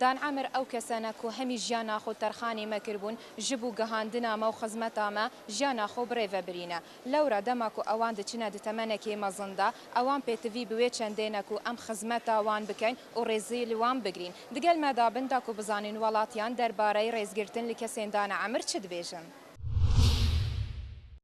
دان عەمر ئەو کەسەنە کو هەمی ژیانا خو تەرخانی مەکر بوون ژب و گەهاندنا مە و خزمەتا مە ژیانا خو بڕێ ڤە برینە. لەورا دەما کو ئەوان دچنە د تەمەنەکێ مەزن دا، ئەوان پێتڤی بوێ چەندێنە کو ئەم خزمەتا وان بکەین و ڕێزی ل وان بگرین. د گەل مە دا بن دا کو بزانین وەڵاتیان دەربارەی ڕێزگرتن ل کەسێن دان عەمر چ دبێژن.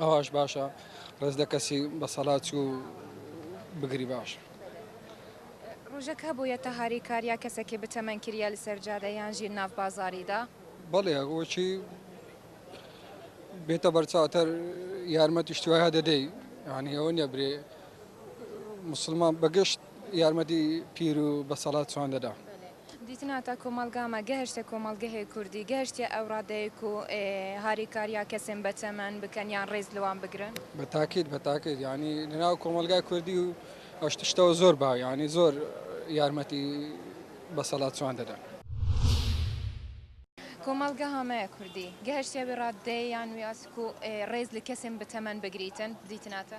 ئەوەش باشە ڕێز لە کەسی بەسەلات و بگری باش. روژە کە بویە تە هاری کار یا کەسە کێ بتەمەن کریا لە سەر جادە یان ژیر ناڤ بازاری دا؟ بەڵێ وە چی بێتە بەرچاوتەر یارمەتیش توایە دەدەی یعنی ئەوە نیە برێ مسلمان بەگشت یارمەتی پیر و بەسەڵات چوان دەدا دیتن هاتا کۆمەڵگامە، گهشتە کۆمەڵگهێ کوردی، گهشتیە ئەو ڕادەیەک و هاریکاریا کەسێن بە چەمەن بکەن یان ڕێز لوان بگرن. بە تاکید بە تاکید یانی لەناو کۆمەڵگای کوردی و ئەوشتشتەوە زۆر با یانی زۆر یارمەتی بە سەڵات چوان دەدەن. کۆمەڵگە هامەیە کوردی، گهشتیە وی ڕادەیە یان وی ئاسک و ڕێز لە کەسێن بە تەمەن بگریتن، دیتن هاتا.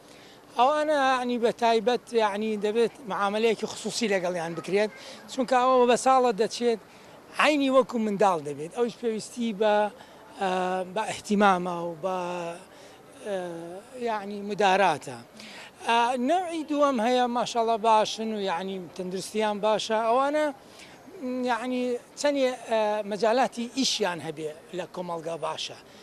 ئەوانە یەعنی بە تایبەت یەعنی دەبێت معامەلەیەکی خسووسی لەگەڵیان بکرێت چونکە ئەوە بە ساڵە دەچێت عەینی وەکو منداڵ دەبێت ئەویش پێویستی بە بە ئیهتیمامە و بە یەعنی مداراتە نەوعی دووەم هەیە ماشاءاللە باشن و یەعنی تەندروستیان باشە ئەوانە یەعنی چەندێ مەجالاتی ئیشیان هەبێ لە کۆمەڵگا باشە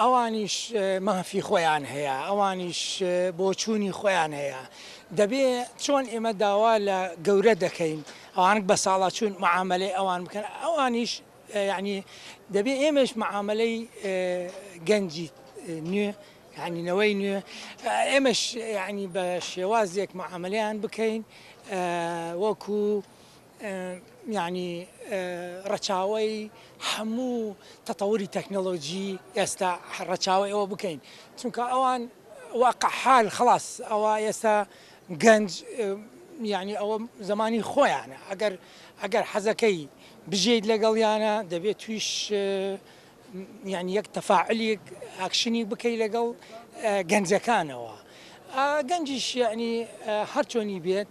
ئەوانیش مافی خۆیان هەیە، ئەوانیش بۆچوونی خۆیان هەیە، دەبێ چۆن ئێمە داوا لە گەورە دەکەین ئەوانک بەساڵاچوون معامەلەی ئەوان بکەن ئەوانیش یەعنی دەبێ ئێمەش معامەلەی گەنجی نوێ یعنی نەوەی نوێ ئێمەش یعنی بە شێوازێک معاملەیان بکەین وەکو یانی ڕەچاوەی هەموو تەتەوری تەکنەلۆجی ئێستا ڕەچاوی ئەوە بکەین چونکە ئەوان واقعحال خلاص ئەوە ئێستا گەنج یعنی ئەوە زمانی خۆیانە ئەگەر ئەگەر حەزەکەی بژیت لەگەڵیانە دەبێت تویش یعنی یەک تەفاعلیک ئاکشنی بکەی لەگەڵ گەنجەکانەوە گەنجیش یعنی هەرچۆنی بێت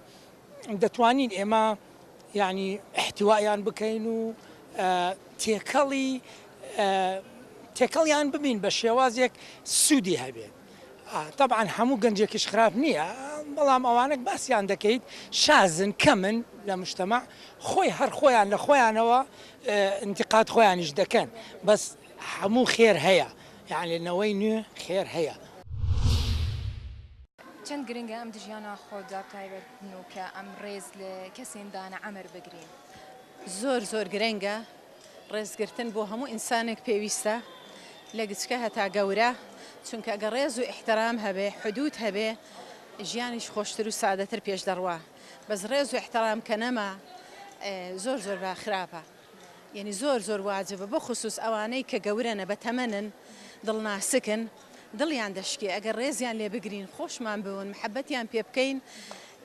دەتوانین ئێمە یانی احتوایان بکەین و تێکەڵی تێکەڵیان ببین بە شێوازێک سوودی هەبێت طبعا هەموو گەنجێکیش خراپ نییە بەڵام ئەوانێک باسییان دەکەیت شازن کەمن لە مشتەمە خۆی هەر خۆیان لە خۆیانەوە انتقاد خۆیانیش دەکەن بەس هەموو خێر هەیە یەعنی نەوەی نوێ خێر هەیە. چەند گرنگە ئەم دژیانە خۆ دابتایبەت بنوکە ئەم ڕێز لە کەسین دانە عەمر بگرین. زۆر زۆر گرنگە ڕێزگرتن بۆ هەموو ئینسانێک پێویستە لە گچکە هەتا گەورە چونکە ئەگەر ڕێز و ئیحترام هەبێ حدود هەبێ ژیانیش خۆشتر و سادەتر پێش دەڕوا بەس ڕێز و ئیحترام کە نەما زۆر زۆر بە خراپە. یەنی زۆر زۆر واجبە بەخوسوس ئەوانەی کە گەورەنە بەتەمەنن دڵ ناسکن دڵیان دەشکێ ئەگەر ڕێزیان لێ بگرین خۆشمان بوون محەبەتیان پێ بکەین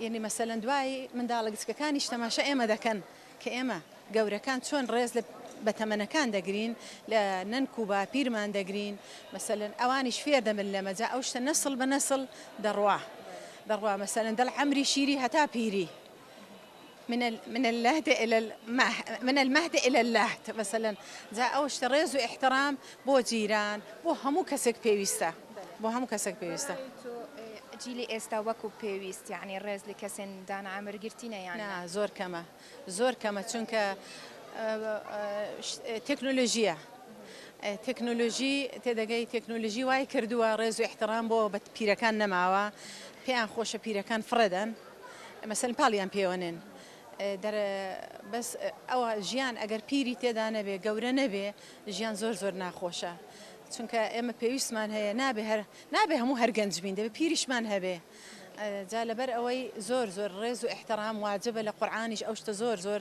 یەنی مەسەلەن دوای منداڵە گچکەکانیش تەماشا ئێمە دەکەن کە ئێمە گەورەکان چۆن ڕێز لە بەتەمەنەکان دەگرین لە نەنک و باپیرمان دەگرین مەسەلەن ئەوانیش فێر دەبن لەمە جا ئەو شتە نەسڵ بە نەسڵ دەڕوا دەڕوا مەسەلەن دەڵ عەمری شیری هەتا پیری من من اللهد الى من المهد الى اللهد مثلا جا ئەو شتە ڕێز و احترام بۆ جیران بۆ هەموو کەسێک پێویستە بۆ هەموو کەسێک پێویستە جیلی ئێستا وەکو پێویست یعنی ڕێز لە کەسێن دان ئامر گرتینە یان زۆر کەمە زۆر کەمە چونکە تەکنۆلۆژیە تەکنۆلۆژی تێدەگەی تەکنۆلژی وای کردووە ڕێز و احترام بۆ بە پیرەکان نەماوە پێیان خۆشە پیرەکان فڕێدەن مەسەلەن پاڵیان پێوەنێن دەر بەس ئەوە ژیان ئەگەر پیری تێدا نەبێ گەورە نەبێ ژیان زۆر زۆر ناخۆشە چونکە ئێمە پێویستمان هەیە نابێ هەر نابێ هەموو هەر گەنج بین دەبێ پیریشمان هەبێ جا لەبەر ئەوەی زۆر زۆر ڕێز و احترام واجبە لە قورآانیش ئەو شتە زۆر زۆر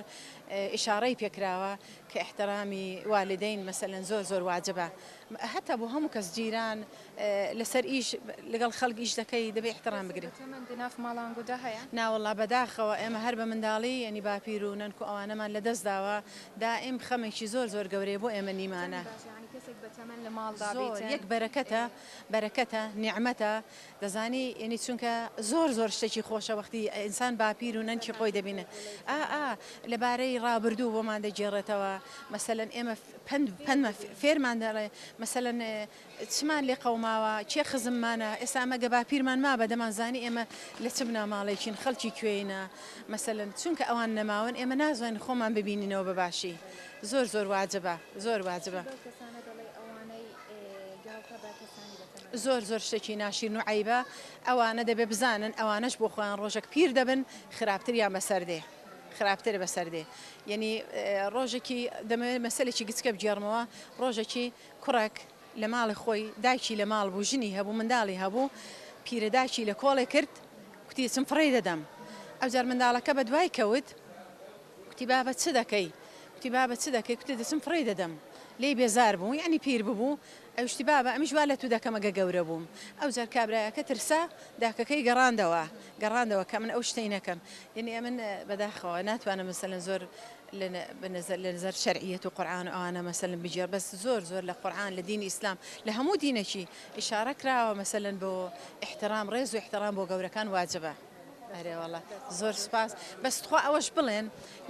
ئشارەی پێکراوە کە احترامی والدین مەسەن زۆر زۆر واجبە هەتا بۆ هەموو کەس جیران لەسەر ئیش لەگەڵ خەڵک ئیش دەکەی دەبێ ئیحترام بگری. تەمەن ناف ماڵانگودا هەیە؟ ناوەڵا بەداخەوە ئێمە هەر بە منداڵی یەنی باپیر و نەنک و ئەوانەمان لە دەست داوە دائیم خەمێکی زۆر زۆر گەورەیە بۆ ئێمە نیمانە. زۆر باشە یانی کەسێک بە تەمەن لە ماڵدا بیتن. زۆر یەک بەرەکەتە بەرەکەتە نیعمەتە دەزانی یەنی چونکە زۆر زۆر شتێکی خۆشە وەختی ئینسان باپیر و نەنکی خۆی دەبینێ ئا ئا لە بارەی ڕابردوو بۆمان دەگێڕێتەوە مەسەلەن ئێمە پەند پەندمان فێرمان دەڵێ مەسەلەن چمان لێ قەوماوە، کێ خزممانە، ئێستا ئەمە گە باپیرمان مابا دەمانزانی ئێمە لە چ بناماڵەیەکین، خەڵکی کوێینە مەسەلەن، چونکە ئەوان نەماون ئێمە نازانین خۆمان ببینینەوە بە باشی، زۆر زۆر واجبە، زۆر واجبە. زۆر زۆر شتێکی ناشیرن و عەیبە، ئەوانە دەبێ بزانن ئەوانەش بۆ خۆیان ڕۆژەک پیر دەبن خراپتریان بەسەر دێ، خراپتر بەسەر دێ، یەنی ڕۆژێکی دەمەوێ مەسەلێکی گچکە بگێڕمەوە، ڕۆژەکی کوڕێک لە ماڵی خۆی، دایکی لە ماڵ بوو، ژنی هەبوو، منداڵی هەبوو، پیرەداکی لە کۆڵێ کرد، کوتی، چم فڕێی دەدەم. ئەوجار منداڵەکە بە دوای کەوت، کوتی، بابە چ دەکەی؟ کوتی، بابە چ دەکەی؟ کوتی، دەچم فڕێی دەدەم. لێی بێزار بوو، یانی پیر ببوو. ئەویش کوتی، بابە ئەمیش وا لە تو دەکەم ئەگە گەورە بووم. ئەوجار کابرایەکە ترسا، داکەکەی گەڕاندەوە، گەڕاندەوە کە من ئەو شتەی نەکەم. یانی ئەمن بەداخەوە ناتوانم مەسەلەن زۆر لە نزەر شەرعیەت و قورعان و ئەوانە مەسەلەن بگێڕ بەس زۆر زۆر لە قورعان لە دینی ئیسلام لە هەموو دینەکی ئیشارە کراوە مەسەلەن بۆ احترام ڕێز و احترام بۆ گەورەکان واجبە ئەرێوەڵە زۆر سپاس بەس تخوا ئەوەش بڵێن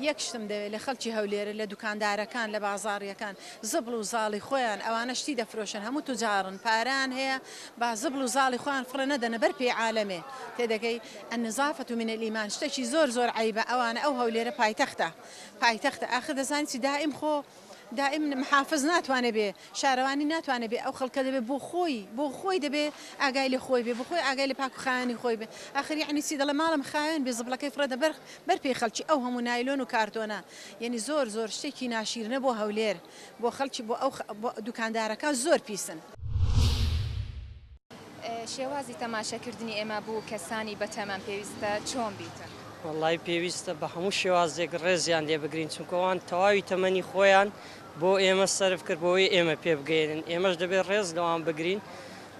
یەک شتم دەوێت لە خەڵکی هەولێرە لە دوکاندارەکان لە بازاڕیەکان زبڵ و زاڵی خۆیان ئەوانە شتی دەفرۆشن هەموو توجاڕن پاران هەیە با زبڵ و زاڵی خۆیان فڕێ نەدەنە بەر پێی عالەمێ تێدەگەی النظافە من الایمان شتەکی زۆر زۆر عەیبە ئەوانە ئەو هەولێرە پایتەختە پایتەختە ئاخر دەزانی چی دائیم خۆ دائیم محافز ناتوانێ بێ شارەوانی ناتوانێ بێ ئەو خەڵکە دەبێ بۆ خۆی بۆ خۆی دەبێ ئاگای لە خۆی بێ بۆ خۆی ئاگای لە پاک و خاوێنی خۆی بێ ئاخر یەعنی چی دەڵێ ماڵم خاوێن بێ زبڵەکەی فڕێ دە بەر بەر پێی خەڵکی ئەو هەموو نایلۆن و کارتۆنە یەعنی زۆر زۆر شتێکی ناشیرنە بۆ هەولێر. بۆ خەڵکی بۆ ئەو بۆ دوکاندارەکە زۆر پیسن. شێوازی تەماشە کردنی ئێمە بو کەسانی بە تەمەن پێویستە چۆن بیتن؟ وەڵای پێویستە بە هەموو شێوازێک ڕێزیان لێ بگرین چونکە ئەوان تەواوی تەمەنی خۆیان بۆ ئێمە سەرف کرد بۆی ئێمە پێ بگەیەنن ئێمەش دەبێت ڕێز لەوان بگرین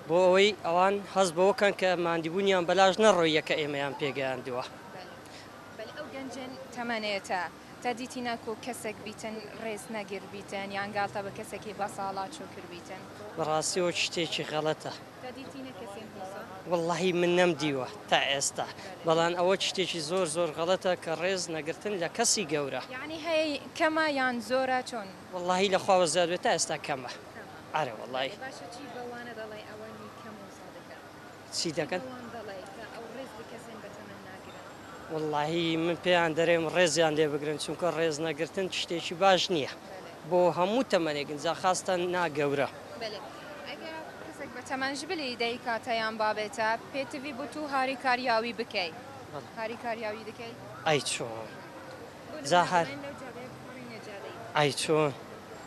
بۆ ئەوەی ئەوان هەست بەوە کەن کە ماندیبوونیان بەلاش نەڕۆییە کە ئێمەیان پێگەیاندووە. بەل ئەو گەنجن تەمەنێتە تا دیتی ناکو کەسەک بیتن ڕێز نەگر بیتن یان گاڵتە بە کەسەکی بە ساڵا چو کر بیتن. بەڕاستی ئەوە شتێکی غەڵەتە. تا دیتی نە کەسێ نوسە. وەڵاهی من نەم دیوە تا ئێستا بەڵام ئەوە شتێکی زۆر زۆر غەڵەتە کە ڕێز نەگرتن لە کەسی گەورە. یەعنی هەیە کەمە یان زۆرە چۆن. وەڵاهی لە خواوە زیاد بێت تا ئێستا کەمە ئەرێ وەڵاهی. ئەرێ باشە چی بەوانە دەڵێ ئەوەنی کەم و زۆر دەکەن. چی دەکەن؟ پێوان دەڵێی کە ئەو ڕێز بکەسێن بەتەمەن ناگرن؟ وەڵاهی من پێیان دەرێم ڕێزیان لێ بگرن چونکە ڕێز نەگرتن شتێکی باش نیە بۆ هەموو تەمەنێک جا خاستەن نا گەورە. بەلێ ئەگە کەسەک بە تەمەن ژ بلی دایکاتە یان بابێتە پێتڤی بو تو هاریکاریاوی بکەی هاریکاریاوی دکەی؟ ئەی چۆن جا هار. ئەی چۆن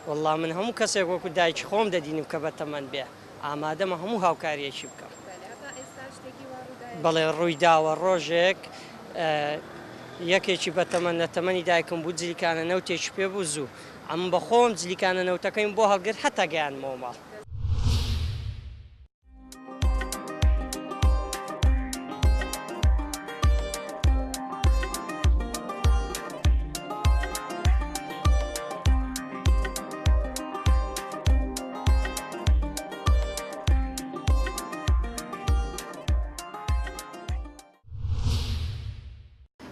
وەڵا من هەموو کەسێک وەکو دایکی خۆم دەدینم کە بەتەمەن بێ. ئامادەمە هەموو هاوکارییەکی بکەم. بەلێ، تا ئێستا شتێکی وا ڕوودایە؟ بەڵێ، ڕوویداوە. ڕۆژێک یەکێکی بەتەمەن لە تەمەنی دایکم بوو، جلیکانە نەوتێکی پێ بوو. زوو ئەمن بە خۆم جلیکانە نەوتەکەیم بۆ هەڵگرت هەتا گەیاندمەوە ماڵ.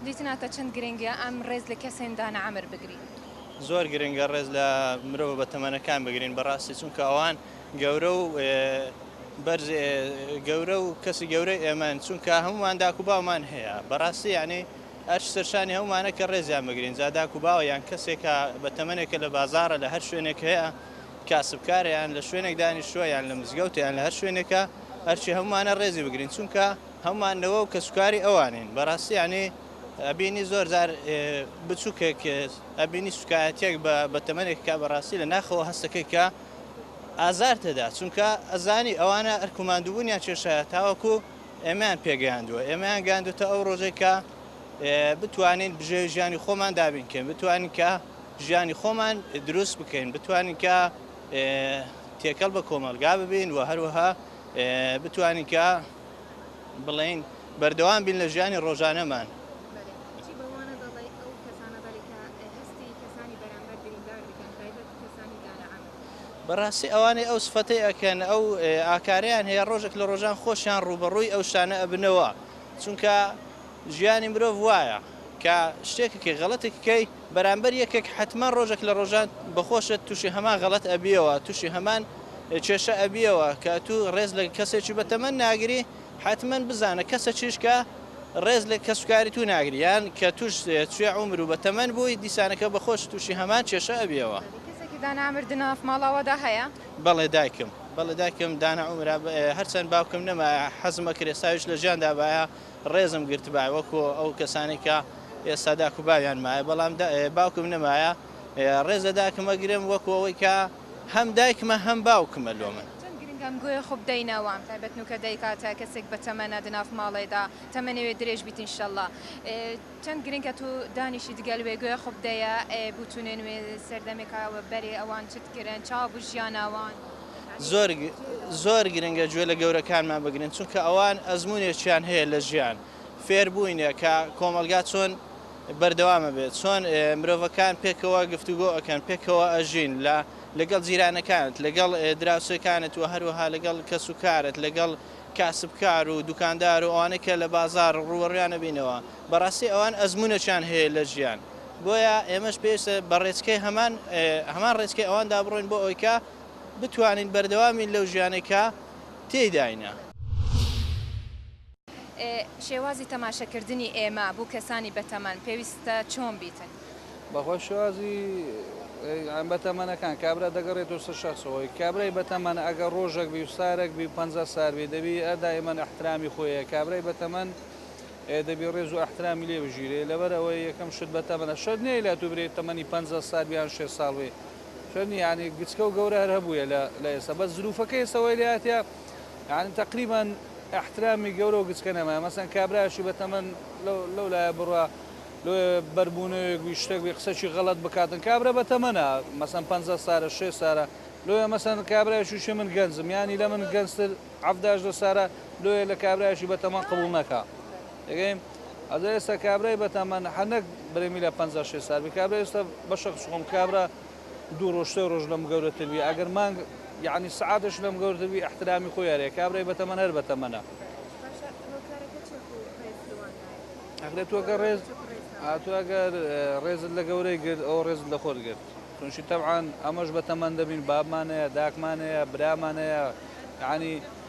دیتناتە چەند گرنگە ئەم ڕێز لە کەسێندانە ئەمر بگری زۆر گرنگە ڕێز لە مرۆ بە تەمەەکان بگرین بەڕاستی چونکە ئەوان گەورە و بەرز گەورە و کەسی گەورە ئێمەن چونکە هەمومان داکو باومان هەیە بەڕاستی یعنی ئەرش سەرشانی هەمومانە کە ڕێزیان بگرین زاداکو باوە یان کەسێکە بە تەمەێکە لە بازارە لە هەر شوێنێک هەیە کاسبکارە یان لە شوێنێک دانیشتووە یان لە مزگەوتە یان لە هەر شوێنێکە ئەرکی هەموومانە ڕێزی بگرین چونکە هەموومان نەوە و کەسوکاری ئەوانین بەڕاستی یانی ئەبینی زۆر جار بچووکێک ئەبینی سوکایەتێک بە بەتەمەنێک کا بەڕاستی لە ناخەوە هەستەکەی کە ئازار تێدا چونکە ئەزانی ئەوانە ئەرکوماندوبوونیان کێشە تاوەکو ئێمەیان پێگەیاندووە ئێمەیان گاندوتە ئەو ڕۆژێکە بتوانین بژێوی ژیانی خۆمان دابین کەین، بتوانین کە ژیانی خۆمان دروست بکەین، بتوانین کە تێکەڵ بە کۆمەڵگا ببین و هەروەها بتوانین کە بڵێین بەردەوام بین لە ژیانی ڕۆژانەمان. بەڕاستی ئەوانەی ئەو سفەتی ئەکەن ئەو ئاکاریان هەیە ڕۆژێک لە ڕۆژان خۆشیان ڕوبەڕووی ئەو شانە ئەبنەوە چونکە ژیانی مرۆڤ وایە کە شتێکک کە غەڵەتێک کەی بەرامبەر یەکێک حەتما ڕۆژێک لە ڕۆژان بەخۆشت تووشی هەمان غەڵەت ئەبیەوە تووشی هەمان کێشە ئەبیەوە کە ئەتوو ڕێز لە کەسێکی بە تەمەن ناگری حەتمەن بزانە کەسەکیش کە ڕێز لە کەسوکاری توو ناگری یان کە تووش توێ عومر و بە تەمەن بووی دیسانەکە بەخۆشت تووشی هەمان کێشە ئەبیەوە. کەسێکی دانا ئەمر دناف ماڵاوادا هەیە؟ بەڵێ دایکم بەڵێ دایکم دانا ئەمرا هەرچەند باوکم نەمایە حەزمەکرێ ساویش لە ژیان دابایە ڕێزم گرتبایە وەکو ئەو کەسانەی کە ئێستا داک و باویان مایە بەڵام باوکم نەمایە ڕێز لە داکم ئەگرم وەکو ئەوەی کە هەم دایکمە هەم باوکمە لۆ من. چەند گرنگە ئەم گویە خۆ بدەینە وام تایبەت نوکە دایکاتە کەسێک بە تەمەنە دناف ماڵێدا تەمەنێ درێژ بیت انشاللە چەند گرنگە تو دانیشی دگەل وێ گویە خۆ بدەیە ئێ بوتونێن وێ سەردەمێکا وە بەرێ ئەوان چت کرن چاو بو ژیانا وان زۆر زۆر گرنگە گوێ لە گەورەکانمان بگرین چونکە ئەوان ئەزمونێکیان هەیە لە ژیان فێربووینە کە کۆمەلگا چۆن بەردەوامە بێت چۆن مرۆڤەکان پێکەوە گفتوگۆ ئەەکەن پێکەوە ئەژین لە لەگەڵ جیرانەکانت لەگەڵ دراوسێکانت و هەروەها لەگەڵ کەس و کارت لەگەڵ کاسبکار و دوکاندار و ئەوانە کە لە بازار ڕووەڕیانە بینەوە بەڕاستی ئەوان ئەزمونەچیان هەیە لە ژیان بۆیە ئێمەش پێویستە بە ڕێچکەی هەمان هەمان ڕێچکەی ئەواندا بڕۆین بۆ ئەویکە بتوانین بەردەوام بین لەو ژیانەی کە تێیداینە. ئێ شێوازی تەماشەکردنی ئێمە بو کەسانی بەتەمەن پێویستە چۆن بیتن؟ بەخوا شێوازی ئێ بەتەمەنەکان کابرا دەگەڕێتەوە سەر شەخس خۆی کابرای بەتەمەن ئەگەر ڕۆژەک بی و سارەک بی و پەنجا سار بی دەبی ئە دایمەن ئەحترامی خۆی هەیە کابرای بەتەمەن ئێ دەبی ڕێز و ئەحترامی لێ بژیرێ لەبەر ئەوەی یەکەم شت بەتەمەنە شەرت نیە لە تو برێ تەمەنی پەنجا سار بی یان شێست ساڵ بی چۆن یانی گچکە و گەورە هەر هەبوویە لە لە ئێستا بەس زروفەکە ئێستا وای لێ هاتیە یانی تەقریبەن ئەحترامی گەورە و گچکە نەمایە مەسەن کابرایشی بە تەمەن لەو لایە بڕا لۆ بەربوونەوێک وی شتێک بێ قسەکی غەڵەت بکاتن کابرا بە تەمەنە مەسەن پەنجا سارە شێ سارە لۆیە مەسەن کابرایشی شێ من گەنجم یانی لە من گەنجتر عەفداش لە سارە لۆیە لە کابرایشی بە تەمەن قبوڵ نەکا دەگەیم ئەدە ئێستا کابرای بەتەمەن هەر نەک برێمی لە پەنجا شێ سال بی کابرا ئێستا بەشە خشخۆم کابرا دوو ڕۆژ سێ ڕۆژ لەم گەورەتر بی ئەگەر مانگ یعنی سعاتش لەم گەورەتر بی احترامی خۆی هەرەیە کابرای بەتەمەن هەر بەتەمەنە ئەگرێت تۆ گە ڕێز ئاتو ئەگەر ڕێزت لە گەورەی گرت ئەو ڕێزت لە خۆت گرت تونشی تەعاان ئەمەش بە تەمەندەبین بابمانەیە داکمانەیە برامانەیە یعنی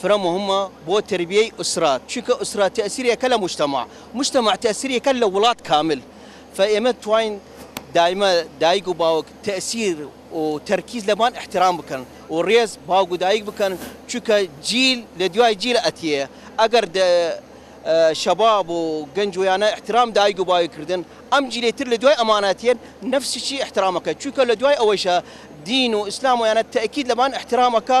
فرە موهمە بۆ تەربیەی ئوسرە چونکە ئوسرە تەئسیری ئەکە لە موجتەمەع موجتەمەع تەئسیری ئەکە لە وڵات کامل فە ئێمە بتواین دایمە دایک و باوک تەئسیر و تەرکیز لەبان ئحترام بکەن و ڕێز باوک و دایک بکەن چونکە جیل لە دویای جیل ئەتیە ئەگەر دە شەباب و گەنج ویانە ئحترام دایک و باوک کردن ئەم جیلەی تر لە دویای ئەمانە ئەتیەن نەفسیی ئحترام ئەکە چونکە لە دویای ئەوەیشە دین و ئیسلام ویانە تەئکید لەبان ئحترام ئەکا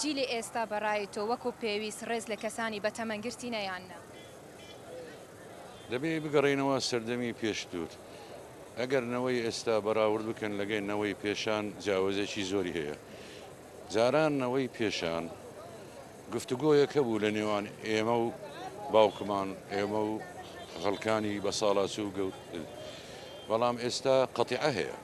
جیلی ئێستا بە ڕای تۆ وەکو پێویست ڕێز لە کەسانی بە تەمەن گرتینە یان نا؟ دەبێ بگەڕێینەوە سەردەمی پێشتر. ئەگەر نەوەی ئێستا بەراورد بکەن لەگەی نەوەی پێشان جیاوەزێکی زۆری هەیە. جاران نەوەی پێشان گفتوگۆیەک هەبوو لە نێوان ئێمە و باوکمان ئێمە و خەڵکانی بە ساڵاچوو گەورتر بەڵام ئێستا قەتیعە هەیە.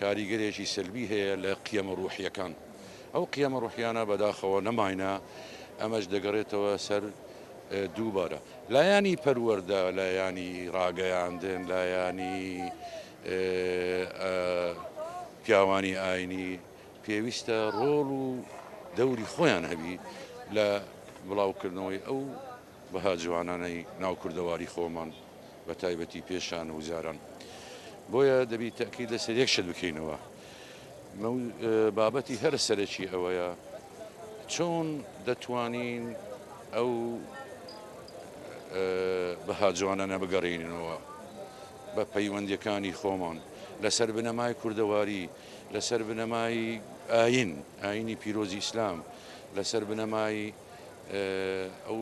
کاریگەرێکی سەلبی هەیە لە قیەمە ڕووحییەکان. ئەو قیەمە ڕووحییانە بەداخەوە نەماینە، ئەمەش دەگەڕێتەوە سەر دووبارە لایەنی پەروەردە، لایەنی ڕاگەیاندن، لایەنی پیاوانی ئاینی پێویستە ڕۆڵ و دەوری خۆیان هەبی لە بڵاوکردنەوەی ئەو بەها جوانانەی ناو کوردەواری خۆمان بە تایبەتی پێشان و جاران. بۆیە دەبی تەئکید لە سەر یەک شت بکەینەوە مەو بابەتی هەرە سەرەکی ئەوەیە چۆن دەتوانین ئەو بەها جوانانە بگەڕێنینەوە بە پەیوەندیەکانی خۆمان لە سەر بنەمای کوردەواری لە سەر بنەمای ئاین ئاینی پیرۆزی ئیسلام لە سەر بنەمای ئەو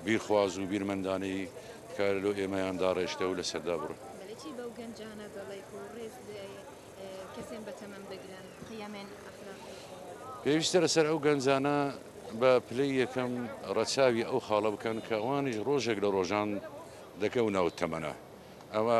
بیرخواز و بیرمەندانەی کە لۆ ئێمەیان داڕێشتە و لە سەردا بڕن. چی بەو گەنجانە دەڵێیت و ڕێز کەسێن بە تەمەن بگرن قیەمێن ئەخلاقی؟ پێویستە لەسەر ئەو گەنجانە بە پلەی یەکەم ڕەچاوی ئەو خاڵە بکەن کە ئەوانیش ڕۆژێک لە ڕۆژان دەکەونەوە تەمەنە ئەوە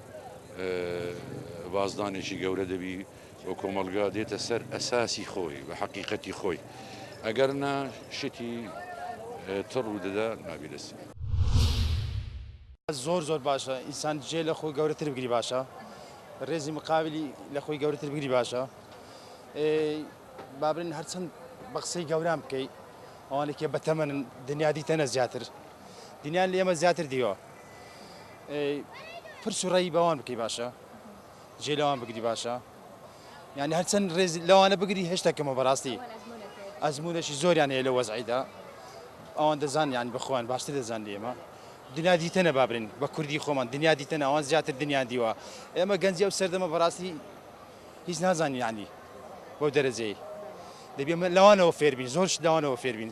بازدانێکی گەورە دەبی و کۆمەلگا دێتە سەر ئەساسی خۆی بە حەقیقەتی خۆی ئەگەر نا شتی تڕ و دەدا نابی دەستی. زۆر زۆر باشە ئینسان جێ لە خۆی گەورەتر بگری باشە ڕێزی مقابلی لە خۆی گەورەتر بگری باشە بابرن هەرچەند بە قسەی گەوران بکەیت ئەوانێکی بەتەمەن دنیا دیتەنە زیاتر دنیان لێمە زیاتر دیوە پرس و ڕێی بەوان بکەی باشە جێ لەوان بگری باشە یعنی هەرچەند ڕێز لەوانە بگری هێشتا کەمە بەڕاستی ئەزمونەشی زۆریان هەیە لە وەزعیدا ئەوان دەزان یان بخۆیان باشتر دەزان لێمە دنیا دیتەنە بابرین بە کوردی خۆمان دنیا دیتە ناوان زیاتر دنیا دیوە ئێمە گەنجی ئەو سەردەمە بەڕاستی هیچ نازانانی بۆ دەرەجەی دەبێمە لەوانەوە فێربین زۆرش لەوانەوە فێربین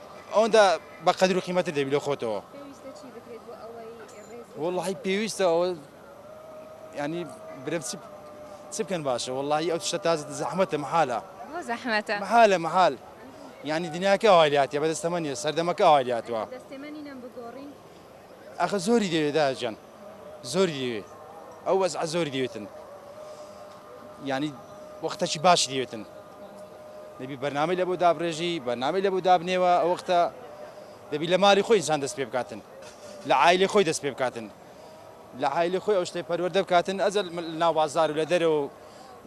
ئەوەندە بە قەدر و قیمەتت دەبی لە خۆتەوە. پێویستە چی بکرێت بۆ ئەوەی ڕێزت. وەڵاهی پێویستە ئەوە یانی برێم چ چ بکەن باشە وەڵاهی ئەو شتە تازە زەحمەتە مەحالە. بۆ زەحمەتە؟ مەحالە مەحال یانی دنیاکە ئەوای لاتیە بەدەستەمە نیە سەردەمەکە ئەوای لاتوە. دەستێمە نینەم بگۆڕین. ئاخە زۆری دەوێ دایە جان زۆری دەوێ ئەو وەزعە زۆری دەوێتن یعنی وەختەکی باشی دەوێتن دەبی بەرنامەی لە بۆ دابڕێژی بەرنامەی لە بۆ دابنێوە ئەو وەختە دەبی لە مالی خۆی ئینسان دەست پێ بکاتن لە عیلی خۆی دەست پێ بکاتن لە عیلی خۆی ئەو شتەی پەروەردە بکاتن ئەزل ناو بازار و لە دەرەوە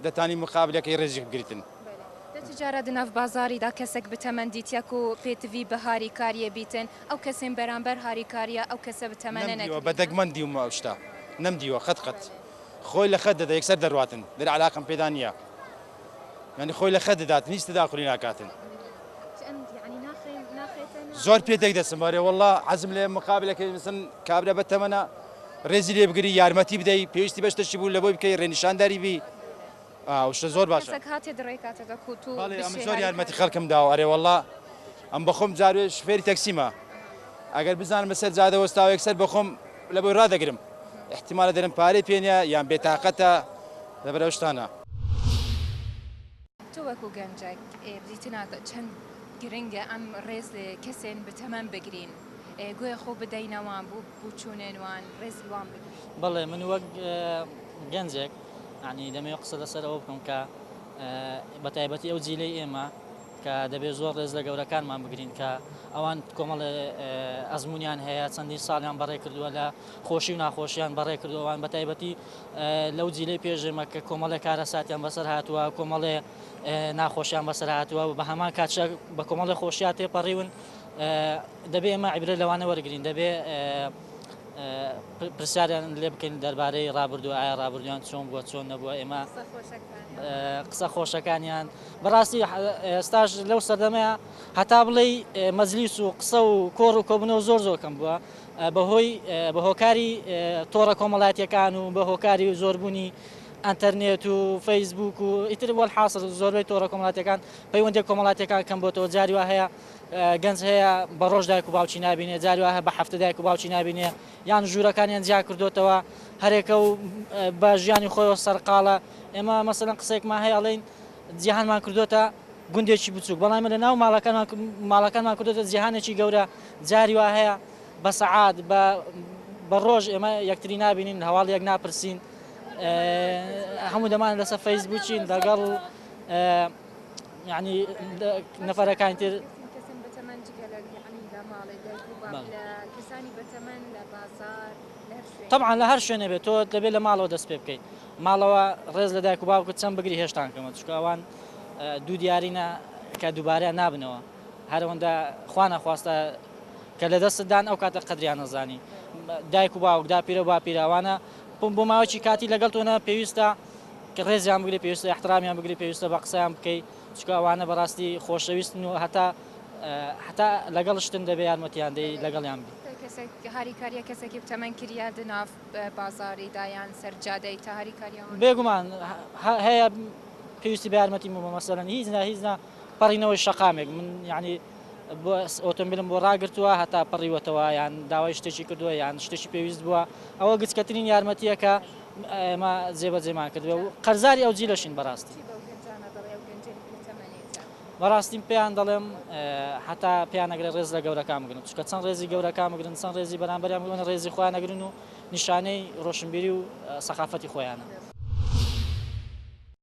دەتانی مقابلەکەی ڕێزی بگریتن جارە دناف بازاریدا کەسێک بتەمەندیتیەک و پێتوی بەهاری کاریە بیتن ئەو کەسەیم بەرامبەر هاریکاریە ئەو کەسە بتەمەنە نەکریە. نەمدیوە بە دەگمەن ندیوم ئەو شتە نەمدیوە قەت قەت خۆی لە خەت دەدە یەکسەر دەرواتن دەرێ عەلاقەم پێدا نیە یانی خۆی لە خەت دەداتن هیچ تەداخولی ناکاتن زۆر پێ تێک دەچم ئەرێ وەڵا عەزم لێ مقابلەکەی مثلا کابرا بە تەمەنە ڕێزی لێ بگری یارمەتی بدەی پێویستی بە شتەکی بوو لە بۆی بکەی ڕێنیشانداری بی ئاوشتە زۆر باشە. کەسەک هاتێ دڕێی کاتە دە کوت و بشێ هاری کاری. بەڵێ ئەمن زۆر یارمەتی خەلکم داوە ئەرێ وەڵا ئەم بەخۆم جاروێ شفێری تەکسیمە ئەگەر بزانم لە سەر جادە وەستاوە یەک سەر بەخۆم لە بۆی رادەگرم ئیحتیمالە دەرم پارەی پێ نیە یان بێ تاقەتە لە بەر ئەو شتانە. تۆ وەکو گەنجەک بریتی ناکە چەند گرنگە ئەم رێز لە کەسێن بتەمەن بگرین گوێ خۆ بدەینە وان بو بوچونێن وان رێزی وان بگرین. بەڵێ من وەک گەنجێک. یەعنی دەمەوێت قسە لەسەر ئەوە بکەم کە بە تایبەتی ئەو جیلەی ئێمە کە دەبێت زۆر ڕێز لە گەورەکانمان بگرین کە ئەوان کۆمەڵێ ئەزمونیان هەیە چەندین ساڵیان بەڕێ کردووە لە خۆشی و ناخۆشیان بەڕێ کردووان بە تایبەتی لەو جیلەی پێشێمە کە کۆمەڵێ کارە ساتیان بەسەر هاتووە کۆمەڵێ ناخۆشیان بەسەر هاتووە بە هەمان کاتشە بە کۆمەڵێ خۆشیان تێپەڕیون دەبێ ئمە عیبرە لەوانە وەرگین دەبێ پرسیاریان لێبکەین دەربارەی ڕابردوو ئایا ڕابردویان چۆن بووە چۆن نەبووە ئێمە قسە خۆشەکانیان بەڕاستی ئێستاش لەو سەردەمەیە هەتا بڵێ مەزلیس و قسە و کۆڕ و کۆبنەوە زۆر زۆرکەم بووە بەهۆی بە هۆکاری تۆڕە کۆمەڵاتیەکان و بە هۆکاری و زۆربوونی ئەتەرنێت و فەیسبوک و ئیتر وەل حاصل زۆربەی تۆڕە کۆمەڵاتەکان پەیوەندی کۆمەڵاتەکان کەم بۆتەوە جاری وە هەیە گەنج هەیە بە ڕۆژ دایک و باوکی نابینێ جاری وایە بە هەفتە دایک و باوکی نابینێ یان ژوورەکانیان جیا کردوتەوە هەرێکە و بە ژیانی خۆیەوە سەرقاڵە ئێمە مەسەن قسێکمان هەیە ئەڵین جیهانمان کردوتە گوندێکی بچووک بەڵام لە ناو ماڵەکانمان ماڵەکانمان کردوتە جیهانێکی گەورە جاری وا هەیە بە سەعات بە بە ڕۆژ ئێمە یەکتری نبینین هەواڵ یەک ناپرسین هەموو دەمان لەسەر فەیسبووکین دەگەڵ یانی لە نەفەرەکانی تر کەسانی بەتەمەن جگە لە یانی لە ماڵێ دایک و باب لە کەسانی بەتەمەن لە بازاڕ لە هەر شوێنێ تەبعەن لە هەر شوێنێ بێت تۆ دەبێت لە ماڵەوە دەست پێ بکەیت ماڵەوە ڕێز لە دایک و باوکت چەند بگری هێشتان کەمە چونکە ئەوان دوو دیارینە کە دووبارەیان نابنەوە هەرەوەندە خوا نەخواستە کە لە دەستدان ئەو کاتە قەدریان نەزانی دایک و باوک داپیرە باپیراوانە بۆ ماوەی کاتی لەگەڵ تۆنە پێویستە کە ڕێزیان بگری پێویستە ئیحترامیان بگری پێویستە بە قسەیان بکەی چکە ئەوانە بەڕاستی خۆشەویستن و هەتا هەتا لەگەڵ شتن دەبێ یارمەتیان دەی لەگەڵیان بی هاریکاریە کەسێکی بتەمەن کریا دناف بازاری دایان سەرجادەی تا هاریکاریە بێگومان هەیە پێویستی بە یارمەتی مە مەسەرەن هیچ نا هیچ نا پەڕینەوەی شەقامێک من یعنی بۆ ئۆتۆمبیلم بۆ ڕاگرتووە هەتا پەڕیوەتەوە یان داوای شتێکی کردووە یان شتێکی پێویست بووە ئەوە گچکەترین یارمەتیەکە ئێمە جێبەجێمان کردووە و قەرزاری ئەو جیلەشین بەڕاستی. چی بەو گەنجانە دەڵێی ئەو گەنجەی کە تەمەنێکە؟ بەڕاستی پێیان دەڵێم هەتا پێیان نەگرێت ڕێز لە گەورەکان بگرن چونکە چەند ڕێزی گەورەکان بگرن چەند ڕێزی بەرامبەریان بگرن ئەوەنە ڕێزی خۆیان نەگرن و نیشانەی ڕۆشنبیری و سەقافەتی خۆیانە.